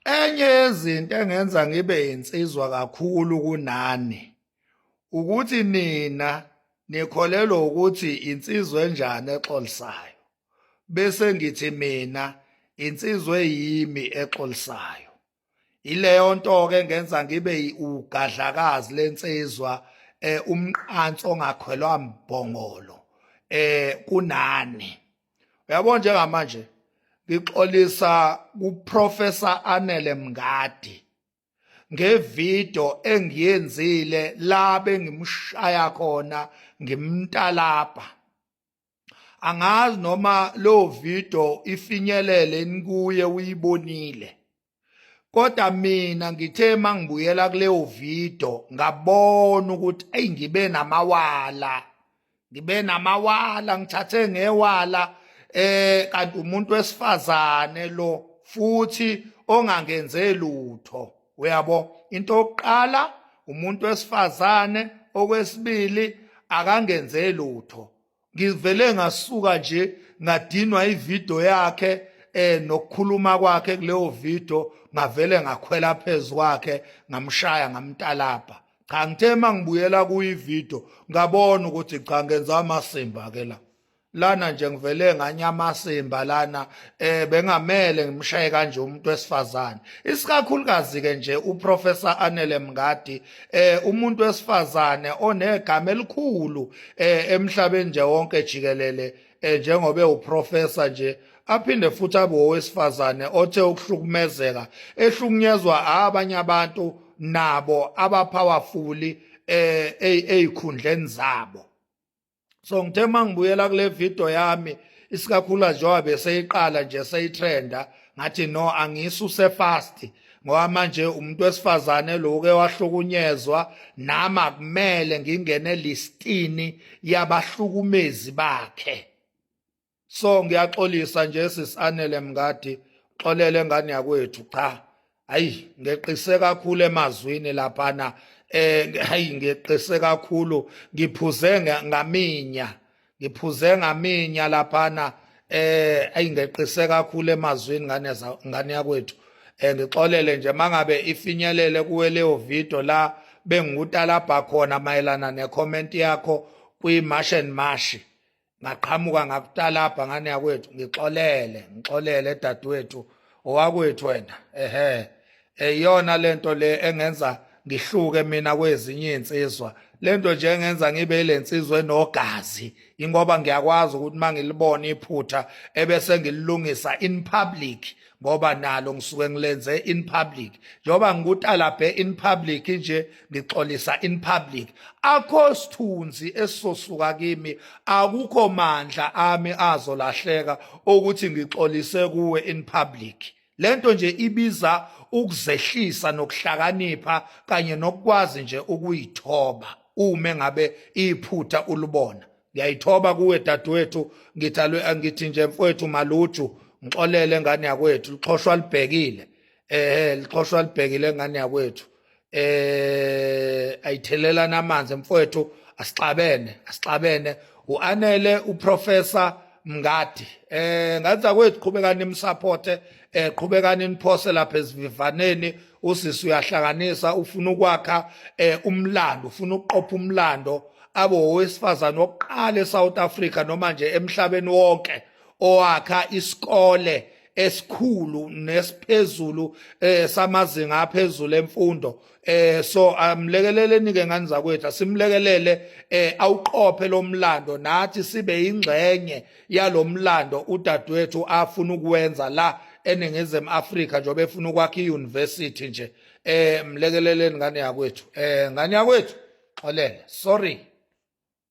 enye yezinto engenza ngibe insizwa kakhulu kunani ukuthi nina nikholelwa ukuthi insizwa enjani exolisayo bese ngithi mina insizwa eyimi exolisayo ileyo nto ke ngenza ngibe ugadlakazi lensizwa eh umqanso ongakhwelwa mbhongolo eh kunani uyabona njengamanje ngixolisa kuprofessor Anele Mngadi ngevideo engiyenzile la bengimshaya khona ngimntalapha angazi noma lo video ifinyelele inikuye uyibonile kodwa mina ngithe mangibuyela kuleyo video ngabona ukuthi ey ngibe namawala ngibe namawala ngithathe ngewala eh kanti umuntu wesifazane lo futhi ongangenze lutho uyabo into yokuqala umuntu wesifazane okwesibili akangenze lutho ngivele ngasuka nje ngadinwa ivideo yakhe eh nokukhuluma kwakhe kuleyo video ngavele ngakhwela phezulu kwakhe ngamshaya ngamtalabha cha ngithe mangibuyela kuyivideo ngabona ukuthi cha ngenza amasimba ke la lana nje ngivele nganya amasimba lana eh bengamele ngimshaye kanje umuntu wesifazane isikakhulukazi ke nje uprofessor Anele Mngadi eh umuntu wesifazane onegama elikhulu eh emhlabeni nje wonke jikelele eh, njengoba ewuprofessor nje aphinde futhi abe owesifazane othe ukuhlukumezeka ehlukunyezwa abanye abantu nabo abapowerful eh ezikhundleni zabo so ngithe uma ngibuyela kule video yami isikakhula njengoba beseyiqala nje seyitrenda ngathi no angisuse fast ngoba manje umuntu wesifazane loke wahlukunyezwa nami akumele ngingene listini yabahlukumezi bakhe so ngiyaxolisa nje sisanele mngadi xolele ngane yakwethu cha hayi ngeqise kakhulu emazwini laphana eh hayi ngeqise kakhulu ngiphuze ngaminya ngiphuze ngaminya laphana eh ayi ngeqise kakhulu emazwini ngane ngane yakwethu eh ngixolele nje mangabe ifinyelele kuwe leyo video la bengutalabha khona mayelana ne comment yakho kwi mash and mash ngaqhamuka ngakutalabha ngane yakwethu ngixolele ngixolele dadewethu owakwethu wena ehe eyona lento le engenza ngihluke mina kwezinye insizwa lento nje engenza ngibe ilensizwa enogazi ingoba ngiyakwazi ukuthi mangilibona iphutha ebese ngililungisa in public ngoba nalo ngisuke ngilenze in public njengoba ngikutalabhe in public nje ngixolisa in public akho sithunzi esisosuka kimi akukho mandla ami azolahleka ukuthi ngixolise kuwe in public lento nje ibiza ukuzehlisa nokuhlakanipha kanye nokukwazi nje ukuyithoba uma ngabe iphutha ulibona ngiyayithoba kuwe dadewethu ngithalwe angithi nje mfowethu maluju ngixolele ngane yakwethu lixhoshwa libhekile eh lixhoshwa libhekile ngane yakwethu eh ayithelelana amanzi mfowethu asixabene asixabene uanele uprofessor mngadi eh ngathi akwethu qhubekani nimsupporte eh qhubekani niphose lapha esivivaneni usisi uyahlakanisa ufuna ukwakha eh, umlando ufuna ukuqopha umlando abe owesifazane wokuqala eSouth Africa noma nje emhlabeni wonke owakha isikole esikhulu nesiphezulu eh samazinga aphezulu emfundo eh so amlekeleleni ke ngani zakwethu simlekelele eh awuqophe lomlando nathi sibe ingxenye yalo mlando udadewethu afuna ukuwenza la eningizimu afrika njengoba efuna ukwakha i-university nje um mlekeleleni ngane yakwethu um ngane yakwethu xolele sorry